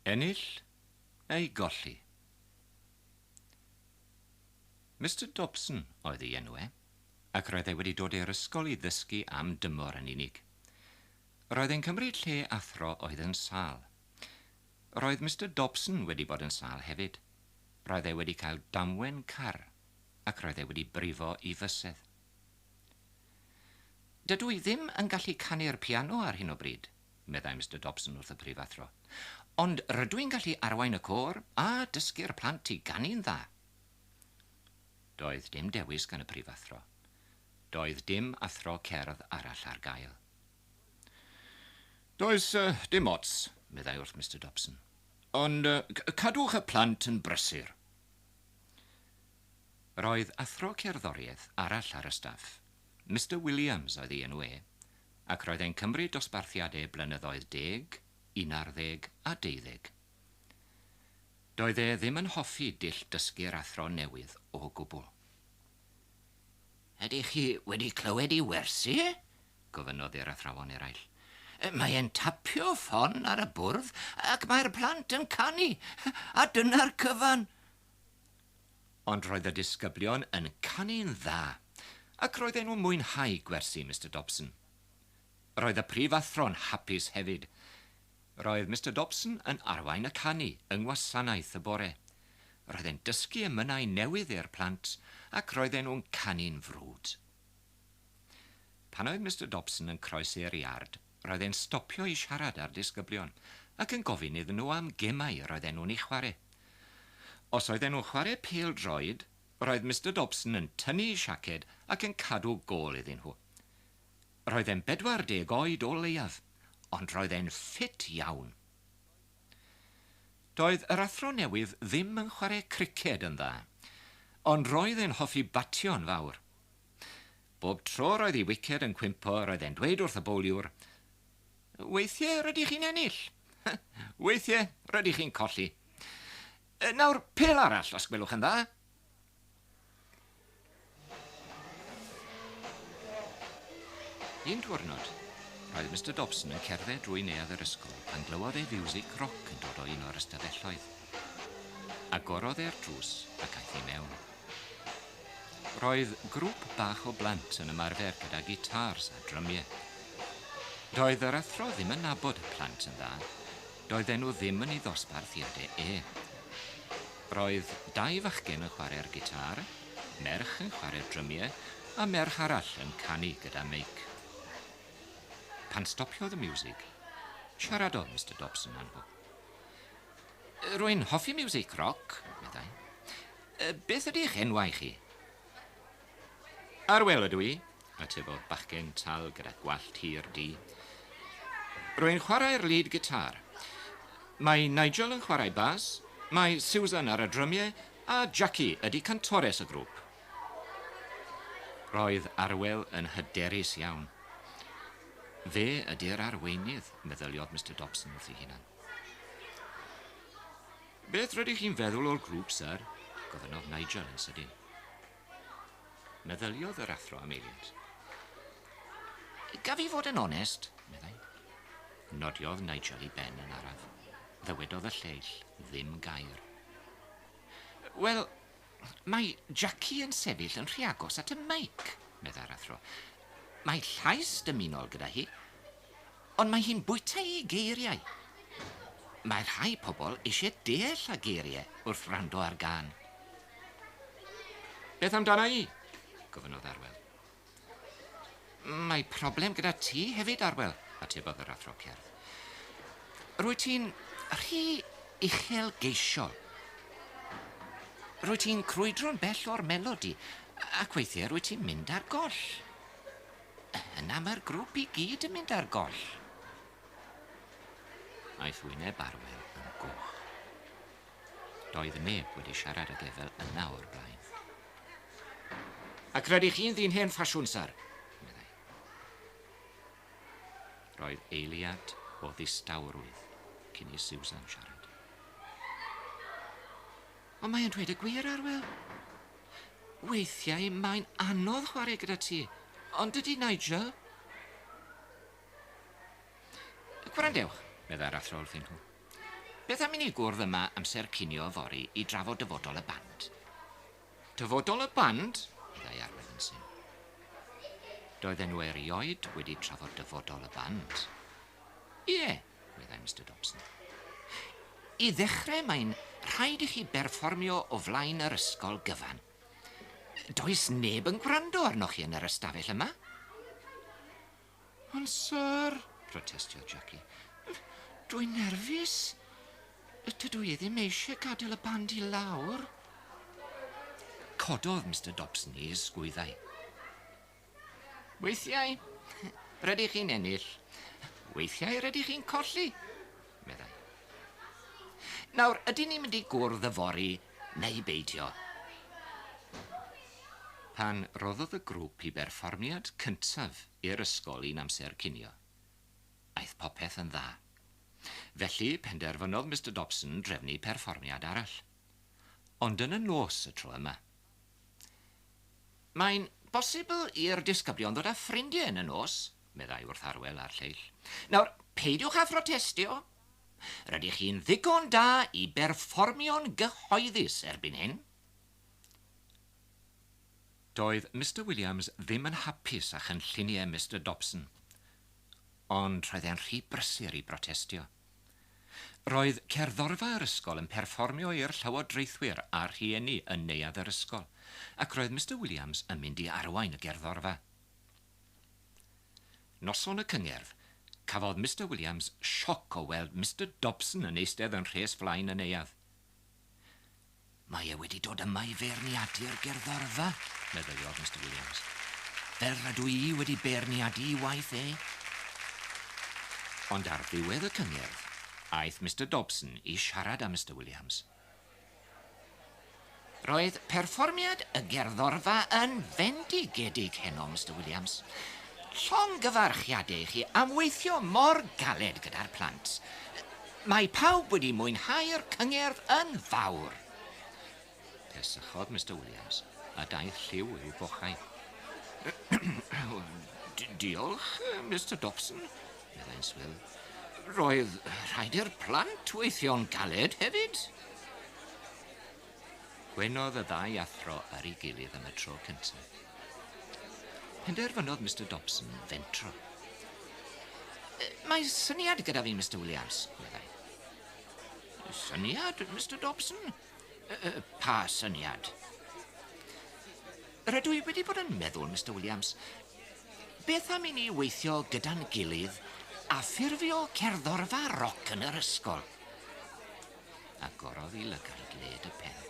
Ennill neu golli. Mister Dobson oedd ei enw e, ac roedd e wedi dod i'r ysgol i ddysgu am dymor yn unig. Roedd e'n cymryd lle athro oedd yn sâl. Roedd Mister Dobson wedi bod yn sâl hefyd. Roedd e wedi cael damwen car, ac roedd e wedi brifo i fysedd. Dydw i ddim yn gallu canu'r piano ar hyn o bryd, meddai Mister Dobson wrth y prifathro, ond rydw i'n gallu arwain y côr a dysgu'r plant i ganu'n dda. Doedd dim dewis gan y prifathro. Doedd dim athro cerdd arall ar gael. Does dim ots, meddai wrth Mister Dobson, ond cadwch y plant yn brysur. Roedd athro cerddoriaeth arall ar y staff, Mister Williams oedd ei enw e, ac roedd e'n cymryd dosbarthiad e blynyddoedd deg, unarddeg a deuddeg. Doedd e ddim yn hoffi dull dysgu'r athro newydd o gwbl. Ydych chi wedi clywed ei wersi? gofynnodd i'r athrawon eraill. Mae e'n tapio ffon ar y bwrdd ac mae'r plant yn canu, a dyna'r cyfan! Ond roedd y disgyblion yn canu'n dda, ac roedden nhw'n mwynhau gwersi Mister Dobson. Roedd y prifathro'n hapus hefyd. Roedd Mister Dobson yn arwain y canu yng ngwasanaeth y bore. Roedd e'n dysgu emynau newydd i'r plant ac roedden nhw'n canu'n frwd. Pan oedd Mister Dobson yn croesi'r iard, roedd e'n stopio i siarad â'r disgyblion ac yn gofyn iddyn nhw am gemau yr oedden nhw'n eu chwarae. Os oedden nhw'n chwarae pêl-droed, roedd Mister Dobson yn tynnu'i siaced ac yn cadw gôl iddyn nhw. Roedd e'n 40 oed o leiaf, ond roedd e'n ffit iawn. Doedd yr athro newydd ddim yn chwarae criced yn dda, ond roedd e'n hoffi batio'n fawr. Bob tro roedd ei wiced yn cwympo roedd e'n dweud wrth y bowliwr, Weithie rydych chi'n ennill. Weithie rydych chi'n colli. Nawr pêl arall os gwelwch yn dda. Un diwrnod, roedd Mister Dobson yn cerdded drwy neuadd yr ysgol pan glywodd e fiwsig roc yn dod o un o'r ystafelloedd. Agorodd e'r drws ac aeth i mewn. Roedd grŵp bach o blant yn ymarfer gyda gitars a drymiau. Doedd yr athro ddim yn nabod y plant yn dda, doedden nhw ddim yn ei ddosbarthiadau e. Roedd dau fachgen yn chwarae'r gitâr, merch yn chwarae'r drymiau a merch arall yn canu gyda meic. Pan stopiodd y miwsig, siaradodd Mister Dobson â nhw. Rwy'n hoffi miwsig roc, meddai. Beth ydy'ch enwau chi? Arwel ydw i, atebodd bachgen tal gyda gwallt hir du. Rwy'n chwarae'r lead guitar. Mae Nigel yn chwarae bas, mae Susan ar y drymiau a Jackie ydy cantores y grŵp. Roedd Arwel yn hyderus iawn. Fe ydy'r arweinydd, meddyliodd Mister Dobson wrth ei hunan. Beth rydych chi'n feddwl o'r grŵp, syr? gofynnodd Nigel yn sydyn. Meddyliodd yr athro am eiliad. Gaf i fod yn onest, meddai. Nodiodd Nigel i Ben yn araf. Ddywedodd y lleill ddim gair. Wel, mae Jackie yn sefyll yn rhy agos at y meic, meddai'r athro. Mae llais dymunol gyda hi. Ond mae hi'n bwyta'i geiriau. Mae rhai pobl eisiau deall a geirie wrth wrando ar gân. Beth amdana i? gofynnodd Arwel. Mae problem gyda ti hefyd, Arwel, atebodd yr athro cerdd. Rwyt ti'n rhy uchelgeisiol. Rwyt ti'n crwydro'n bell o'r melodi ac weithiau rwyt ti'n mynd ar goll. Yna mae'r grwp i gyd yn mynd ar goll. Aeth wyneb Arwel yn goch. Doedd neb wedi siarad ag Efel yna o'r blaen. Ac rydych chi'n ddyn hen ffasiwn, syr, meddai. Roedd eiliad o ddistawrwydd cyn i Susan siarad. Ond mae e'n dweud y gwir, Arwel. Weithiau mae'n anodd chwarae gyda ti, ond dydy Nigel... Gwrandewch, meddai'r athro wrthyn nhw. Beth am i ni gwrdd yma amser cinio yfory i drafod dyfodol y band? Dyfodol y band? meddai Arwel yn syn. Doedden nhw erioed wedi trafod dyfodol y band. Ie, meddai Mister Dobson. I ddechrau mae'n rhaid i chi berfformio o flaen yr ysgol gyfan. Does neb yn gwrando arnoch chi yn yr ystafell yma. Ond sir, protestiodd Jackie, dwi'n nerfus. Dydw i ddim eisiau gadael y band i lawr. Cododd Mister Dobson ei ysgwyddau. Weithiau, rydych chi'n ennill, weithiau rydych chi'n colli, meddai. Nawr, ydyn ni'n mynd i gwrdd yfory neu beidio? Pan roddodd y grŵp i berfformiad cyntaf i'r ysgol i'n amser cinio, aeth popeth yn dda. Felly, penderfynodd Mister Dobson drefnu perfformiad arall. Ond yn y nos y tro yma, Mae'n bosibl i'r disgyblion ddod â ffrindiau yn y nos, meddai wrth Arwel a'r lleill. Nawr, peidiwch â phrotestio. Rydych chi'n ddigon da i berfformio'n gyhoeddus erbyn hyn. Doedd Mister Williams ddim yn hapus â chynlluniau Mister Dobson, ond roedd e'n rhy brysur i brotestio. Roedd cerddorfa yr ysgol yn perfformio i'r llywodraethwyr a'r rhieni yn neuadd yr ysgol, ac roedd Mister Williams yn mynd i arwain y gerddorfa. Noson y cyngerdd, cafodd Mister Williams sioc o weld Mister Dobson yn eistedd yn rhes flaen y neuadd. Mae e wedi dod yma i feirniadu'r gerddorfa, meddyliodd Mister Williams. Fel rydw i wedi beirniadu i waith e. Ond ar ddiwedd y cyngerdd, aeth Mister Dobson i siarad â Mister Williams. Roedd perfformiad y gerddorfa yn fendigedig heno, Mister Williams. Llongyfarchiadau i chi am weithio mor galed gyda'r plant. Mae pawb wedi mwynhau'r cyngerdd yn fawr! Pesychodd Mister Williams, a daeth lliw i'w bochau. Diolch, Mister Dobson, meddai'n swil. Roedd rhaid i'r plant weithio'n galed hefyd. Gweinodd y ddau athro ar ei gilydd am y tro cyntaf. Penderfynodd Mister Dobson fentro. Mae syniad gyda fi, Mister Williams, meddai. Syniad, Mister Dobson? Pa syniad? Rydw i wedi bod yn meddwl, Mister Williams, beth am i ni weithio gyda'n gilydd a ffurfio cerddorfa roc yn yr ysgol? agorodd i lygaid led y pen.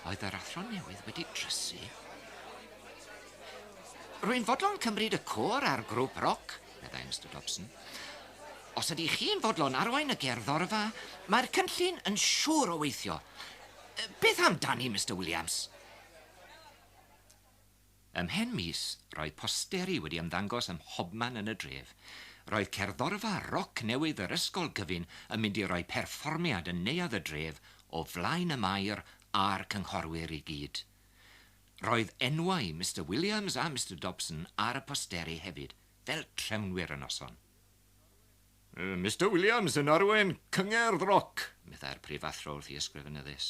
Oedd yr athro newydd wedi drysu? Rwy'n fodlon cymryd y côr a'r grŵp roc, meddai Mister Dobson. Os ydy chi'n fodlon arwain y gerddorfa, mae'r cynllun yn siŵr o weithio. Beth amdani, Mister Williams? Ymhen mis, roedd posteri wedi ymddangos ym mhobman yn y dref. Roedd cerddorfa roc newydd yr ysgol gyfun yn mynd i roi perfformiad yn neuadd y dref o flaen y Maer a'r cynghorwyr i gyd. Roedd enwau Mister Williams a Mister Dobson ar y posteri hefyd, fel trefnwyr y noson. Mister Williams yn arwain cyngerdd roc, meddai'r prifathro wrth i ysgrifennydd Is.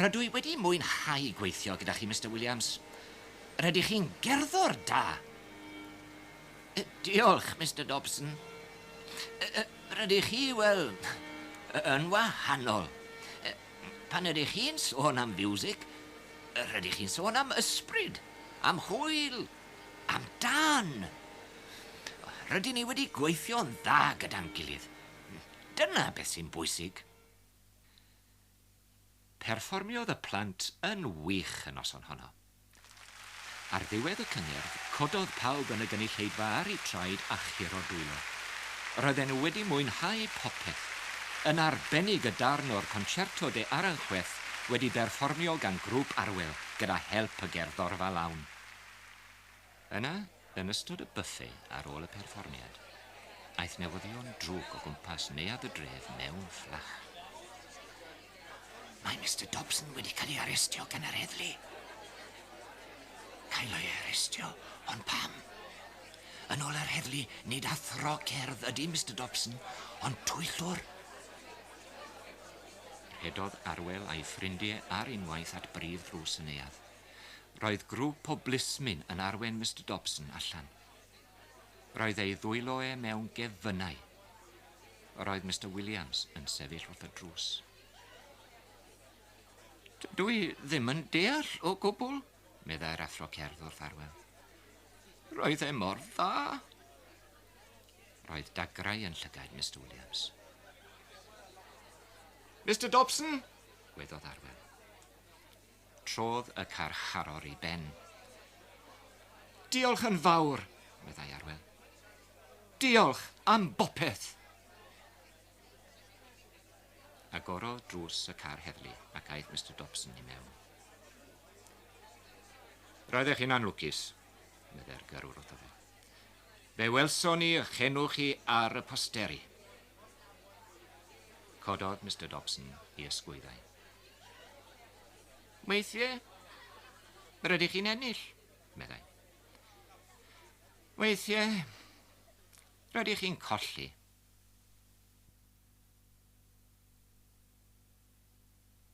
Rydw i wedi mwynhau gweithio gyda chi, Mister Williams. Rydych chi'n gerddor da. Uh, diolch, Mister Dobson. Uh, uh, rydych chi, wel, yn wahanol. Pan ydych chi'n sôn am fiwsig, rydych chi'n sôn am ysbryd, am hwyl, am dan. Rydyn ni wedi gweithio'n dda gyda'n gilydd. Dyna beth sy'n bwysig. Perfformiodd y plant yn wych y noson honno. Ar ddiwedd y cyngerdd, cododd pawb yn y gynulleidfa ar eu traed a churo dwylo. Roedden nhw wedi mwynhau popeth, yn arbennig y darn o'r Concerto de Aranjuez wedi berfformio gan Grŵp Arwel gyda help y gerddorfa lawn. Yna, Yn ystod y buffe ar ôl y perfformiad, aeth newyddion drwg o gwmpas neuadd y dref mewn fflach. Mae Mister Dobson wedi cael ei arestio gan yr heddlu. Cael ei arestio? Ond pam? Yn ôl yr heddlu, nid athro cerdd ydy Mister Dobson, ond twyllwr. Rhedodd Arwel a'i ffrindie ar unwaith at brif ddrws y neuadd. Roedd grŵp o blismyn yn arwain Mister Dobson allan. Roedd ei ddwylo e mewn gefynnau. Roedd Mister Williams yn sefyll wrth y drws. Dw i ddim yn deall o gwbl, meddai'r athro cerdd wrth arwen. Roedd e mor dda. Roedd dagrau yn llygaid Mister Williams. Mister Dobson, gwedodd arwen. Trodd y carcharor i ben. Diolch yn fawr, meddai Arwel. Diolch am bopeth! Agorodd drws y car heddlu ac aeth Mister Dobson i mewn. Roeddech chi'n anlwcus, meddai'r gyrrwr wrtho fe. Fe welson ni ych enw chi ar y posteri. Cododd Mister Dobson i ysgwyddau. Weithiau, yr ydych chi'n ennill, meddai. Weithiau, rydych chi'n colli.